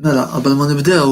Mela, qabel ma nibdew,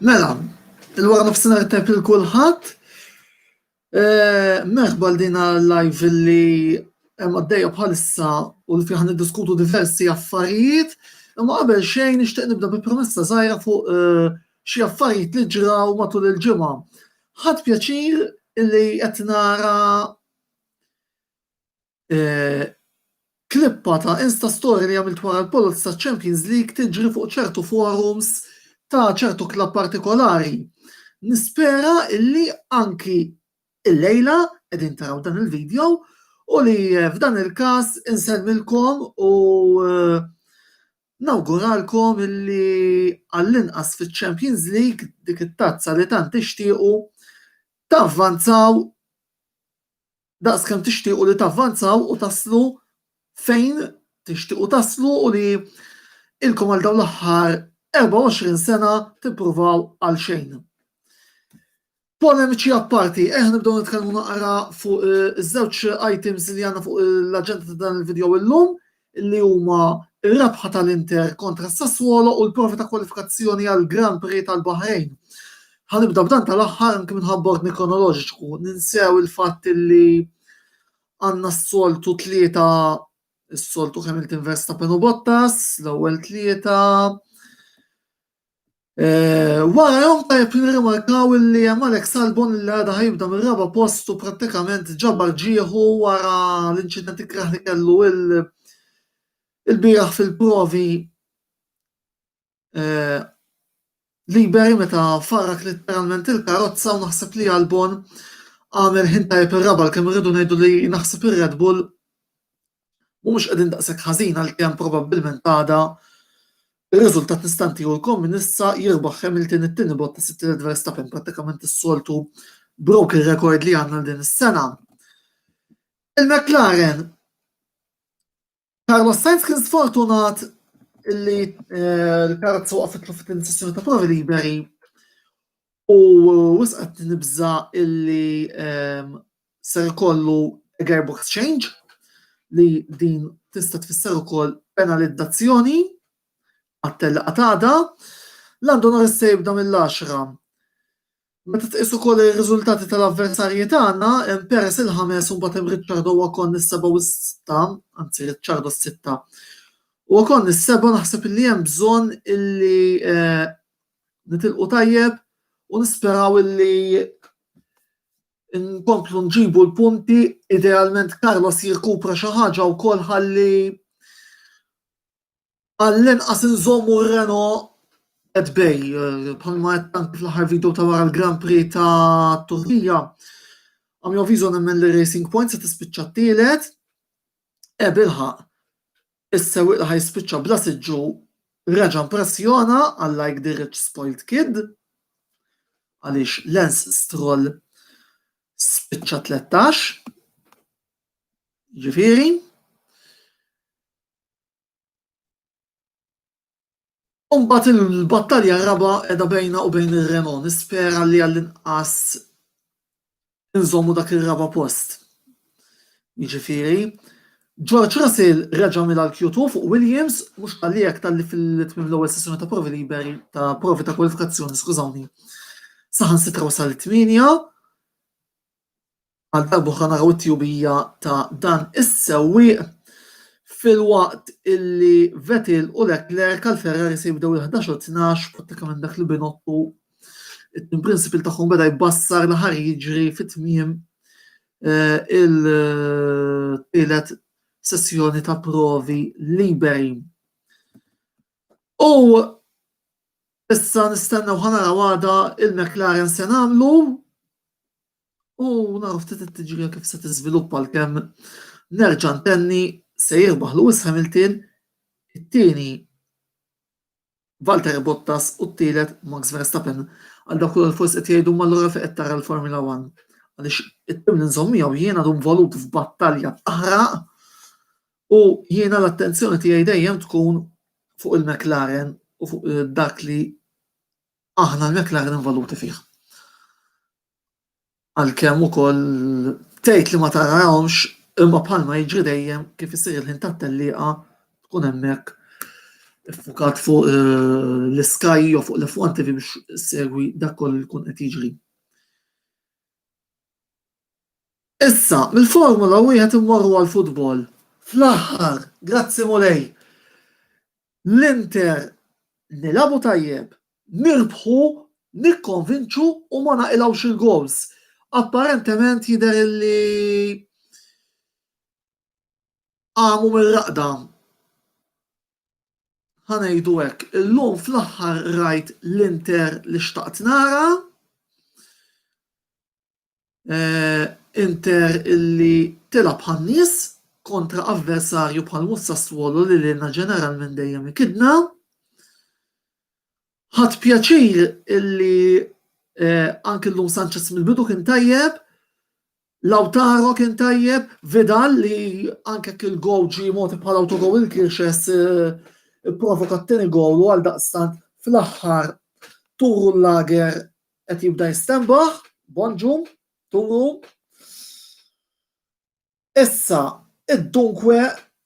Mela, il-wara nofsina tajb il kulħadd eh, Merħba din live li hemm għaddejja bħalissa u li fiħan diskutu diversi affarijiet, imma qabel xejn nixtieq nibda bi promessa żgħira fuq eh, xi affarijiet li ġraw matul il-ġimgħa. Ħadd pjaċir li qed nara e, klippa ta' Insta Story li għamilt wara l-polots ta' Champions League tiġri fuq ċertu forums ta' ċertu klab partikolari. Nispera illi anki il-lejla qegħdin taraw dan il-video u li e, f'dan il-każ insemmilkom u e, Nawguralkom illi għall-inqas fiċ-Champions League, dik it-tazza li tant tixtiequ, tavvanzaw daqskemm tixtiequ li tavvanzaw u taslu fejn tixtiequ taslu u li ilkom għal dawn l-aħħar 24 sena tippruvaw għalxejn. Polemiċi apparti, ejja nibdew nitkellmu naqra fuq iż-żewġ items li għandna fuq l-aġenda ta' dan il-video illum li huma r-rebħa tal-Inter kontra s-Sassuolo u l-provi ta' kwalifikazzjoni għall-Grand Prix tal-Baħrejn. Ħanibda b'dan tal-aħħar anke minħabba ordni kronoloġiku, ninsew il-fatt li għandna s-soltu tlieta s-soltu Hamilton Verstappen u Bottas, l-ewwel tlieta, Wara jom tajjeb li nirrimarkaw li hemm Alex Albon li għadha ħajibda mir-raba' post u prattikament ġabar ġieħu wara l-inċident ikrah li kellu il-bieraħ fil-provi liberi meta farrak letteralment il-karozza u naħseb li Albon għamel ħin tajjeb ir-raba' għalkemm irridu ngħidu li naħseb ir-Red Bull mhumiex qegħdin daqshekk ħażin għalkemm probabbilment għada Ir-riżultat nista' ntiehulkom minn issa jirbaħ Hamilton it-tieni bot ta' sitt lil Verstappen prattikament is-soltu broken record li għandna din is-sena. Il-McLaren Carlos Sainz kien sfortunat li eh, l-karozza waqfitlu fit-tieni sessjoni ta' provi liberi u wisqat nibża illi ehm, se jkollu gearbox change li din tista' tfisser ukoll penalizzazzjoni għat-tella qatada. Lando Norris se jibda mill-10. Meta tqis ukoll ir-riżultati tal-avversarji tagħna, hemm Perez il-ħames u mbagħad hemm Ricciardo Ocon is-seba' u s-sitta, anzi Ricciardo s-sitta. U Ocon is-seba' naħseb li hemm bżonn illi eh, nitilqu tajjeb u nisperaw illi Inkomplu nġibu l-punti, idealment Carlos jirkupra xi ħaġa wkoll ħalli għall-inqas inżommu r-Reno qed bej, eh, bħalma qed tank fl-aħħar video ta' wara l-Grand Prix ta' Turkija. Għam jovizu nemmen li Racing Point se tispiċċa t-tielet. E bilħaq, Is-sewwieq li ħa jispiċċa bla siġġu reġa' mpressjona għal like the rich spoiled kid għaliex Lance Stroll spiċċa 13. Ġifieri, U mbagħad il-battalja r-raba' qiegħda bejna u bejn ir-Renault. Nispera li għall-inqas inżommu dak ir-raba' post. Jiġifieri, George Russell reġa' mila l-Q2 fuq Williams, mhux qalli hekk talli fil-tmiem l-ewwel sessjoni ta' provi liberi ta' provi ta' kwalifikazzjoni, skużawni, saħansitra wasal it-tmienja. Għal darboħra naraw it-tjubija ta' dan is-sewwieq filwaqt illi Vettel u Leclerc għal Ferrari se jibdew il-11 u 12 prattikament dak li binottu it-tim principal tagħhom beda jbassar li ħar jiġri fit-tmiem eh, il-tielet sessjoni ta' provi liberi. U issa nistennew ħanara għada il-McLaren se nagħmlu u naraw ftit it-tiġrija kif se tiżviluppa l-kemm nerġa' ntenni se jirbaħ Lewis Hamilton it-tieni Valtteri Bottas u t-tielet Max Verstappen. Għal dak li forsi qed jgħidu mal-lura fejn qed tara l-Formula 1. Għaliex it-tim li nżomm miegħu jiena dum volut f'battalja taħraq U jiena l-attenzjoni tiegħi dejjem tkun fuq il-McLaren u fuq eh, dak li aħna l-McLaren involuti fih. Għalkemm ukoll tgħid li ma tarahomx imma bħalma jiġri dejjem kif isir il-ħin tat-tellieqa tkun hemmhekk fukat fuq eh, l-Sky jew fuq l-F1 TV biex segwi dak kollu li kun qed jiġri. Issa, mill-Formula Wieħed immorru għall-futbol. Fl-aħħar, grazzi Mulej, l-Inter nilagħbu tajjeb, nirbħu, nikkonvinċu u ma naqilgħux il-gowls. Apparentement jidher li qamu mir-raqda ħa ngħidu hekk, illum fl-aħħar rajt l-Inter li xtaqt nara, eh, Inter illi tilab bħan-nies kontra avversarju bħal mhux Sassuolo li lilna ġeneralment dejjem ikidna. Ħadd pjaċir illi eh, anke llum Sanchez mill-bidu kien tajjeb, Lautaro kien tajjeb, Vidal li anke jekk il-gowl ġie mogħti bħala autogowl il-Kirxes ipprovoka t-tieni gowl u għaldaqstant fl-aħħar turu l-lager qed jibda jistenbaħ, Bonġu, turu. Issa id-dunkwe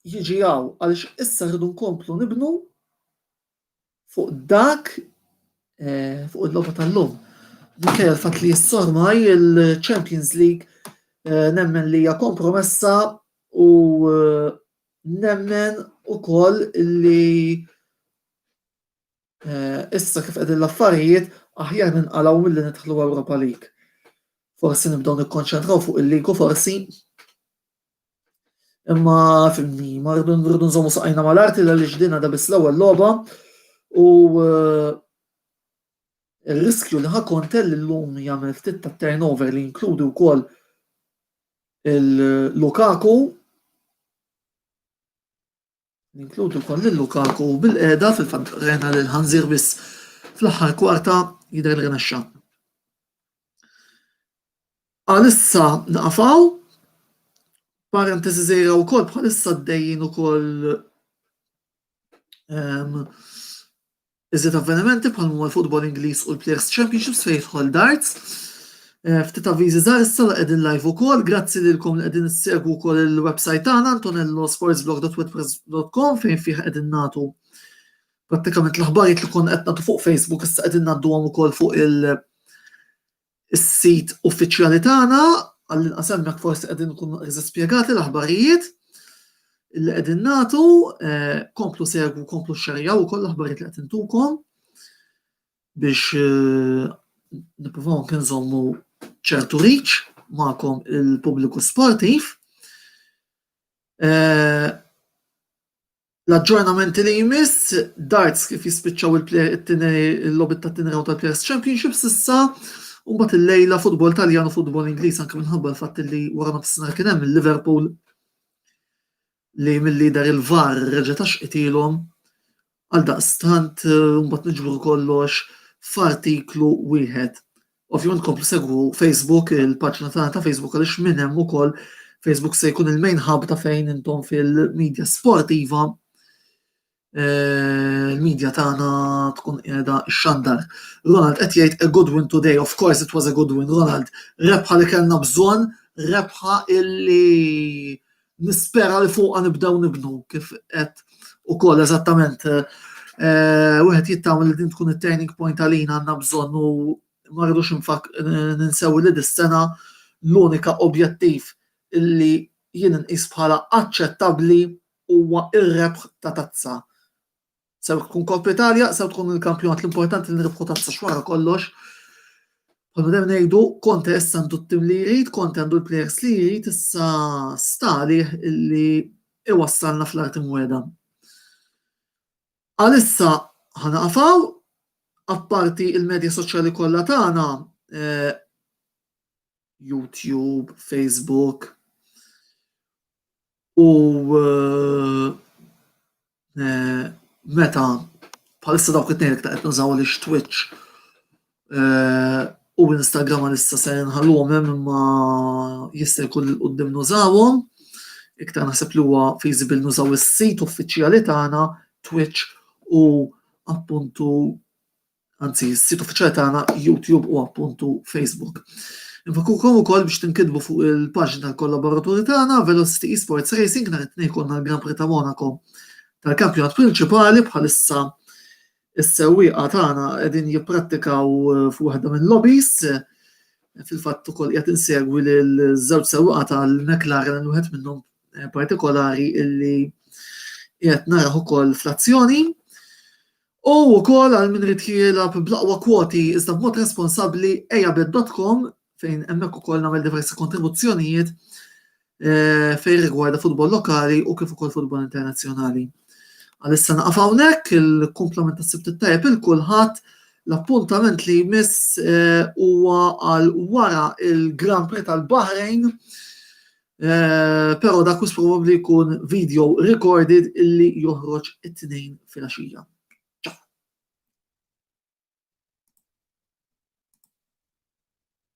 jiġi hawn għaliex issa rridu nkomplu nibnu fuq dak eh, fuq il-logħba tal-lum. Minkejja l-fatt li jissormaj il-Champions League eh, nemmen li hija kompromessa u eh, nemmen ukoll li issa kif qegħdin l-affarijiet aħjar ninqalgħu milli nidħlu Europa League. Forsi nibdew nikkonċentraw fuq il-ligu forsi Imma fimni, ma rridu nżommu saqajna mal-arti li għaliex dina da biss l-ewwel logħba u eh, il-riskju li ħa kontel l-lum jagħmel ftit ta' turnover li jinkludi wkoll il-Lukaku Ninkludi wkoll lil Lukaku u bil-qiegħda fil-fatt rajna lil ħanżir biss fl-aħħar kwarta jidher li rnexxa. Għalissa naqafaw, parentesi żejra wkoll bħalissa d-dejjin ukoll ehm, Iżjed avvenimenti bħal huma l-futbol Ingliż u l-Players Championships fejn jidħol darts. Eh, ftit avviżi żgħar issa li qegħdin live ukoll, grazzi lilkom li qegħdin issegwu wkoll il-website tagħna antonellosportsblog.wordpress.com fejn fih qegħdin nagħtu prattikament l-aħbarijiet li kon qed nagħtu fuq Facebook issa qegħdin ngħadduhom ukoll fuq il- is-sit uffiċjali tagħna, għall-inqas hemmhekk forsi qegħdin nkunu eżatt spjegati l-aħbarijiet li qegħdin nagħtu, eh, komplu segwu, komplu xxerjaw ukoll l-aħbarijiet li qed intukom biex eh, nippruvaw anke nżommu ċertu riċ magħkom il-pubbliku sportiv. Eh, L-aġġornamenti li jmiss, darts kif jispiċċaw il-logħbiet tat-tieni round tal-Players Championship s'issa, u mbagħad il-lejla futbol Taljan u futbol Ingliż anke minħabba l-fatt li wara nofsinhar kien hemm il-Liverpool li mill-lider il-VAR reġa' ta' xqitilhom għal daqstant mbagħad niġbru kollox f'artiklu wieħed. Ovvjament komplu segwu Facebook, il-paġna tagħna ta' Facebook għaliex minn hemm ukoll Facebook se jkun il-main hub ta' fejn intom fil-media sportiva eh, il-media tagħna tkun qiegħda xandar. Ronald qed jgħid a good win today, of course it was a good win, Ronald, rebħa li kellna bżonn, rebħa illi Nispera li fuqha nibdew nibnu kif qed ukoll eżattament wieħed jittama li din tkun it-turning point għalina għandna bżonn u ma rridux ninsew li dis-sena l-unika objettiv li jien inqis bħala aċċettabbli huwa r-rebħ ta' tazza Sew tkun Coppa Italia, sew tkun il-kampjonat l-importanti li nirfħu tazza xwara kollox. Għallu dem nejdu, konte issa għandu t-tim li jrid, konte għandu l-players li jrid, issa stali li iwassalna fl-arti mweda. Għalissa ħana għafaw, apparti il-medja soċjali kollha tagħna, eh, YouTube, Facebook, u eh, eh, meta bħalissa dawk it-tnejn iktar qed nużaw li Twitch eh, u Instagram għalissa se nħalluhom hemm imma jista' jkun il qudiem nużawhom. Iktar naħseb li huwa feasible nużaw is-sit uffiċjali tagħna Twitch u appuntu anzi, s-sit uffiċjali tagħna YouTube u appuntu Facebook. Infakukom u koll biex tinkidbu fuq il-paġna tal-kollaboraturi tagħna Velocity Esports Racing nhar it-tnejn jkollna l-Gran Prix ta' Monaco tal-kampjonat prinċipali bħalissa is-sewwieqa tagħna qegħdin jipprattikaw eh, fuq waħda minn lobbies fil-fatt ukoll qed insegwi lil żewġ sewwieqa tal-McLaren wieħed minnhom eh, partikolari illi qed naraħ ukoll fl-azzjoni. U wkoll għal min irid jilgħab bl-aqwa kwoti iżda b'mod responsabbli ejabet.com fejn hemmhekk ukoll nagħmel diversi kontribuzzjonijiet eh, fejn rigwarda futbol lokali u kif ukoll futbol internazzjonali. Għalissa naqaf hawnhekk il-kumplament tas-sibt tajjeb il kulħadd l-appuntament li jmiss eh, huwa għal wara il-Grand Prix tal-Bahrejn Però dak mhux probabbli jkun video recorded illi joħroġ it-Tnejn filgħaxija.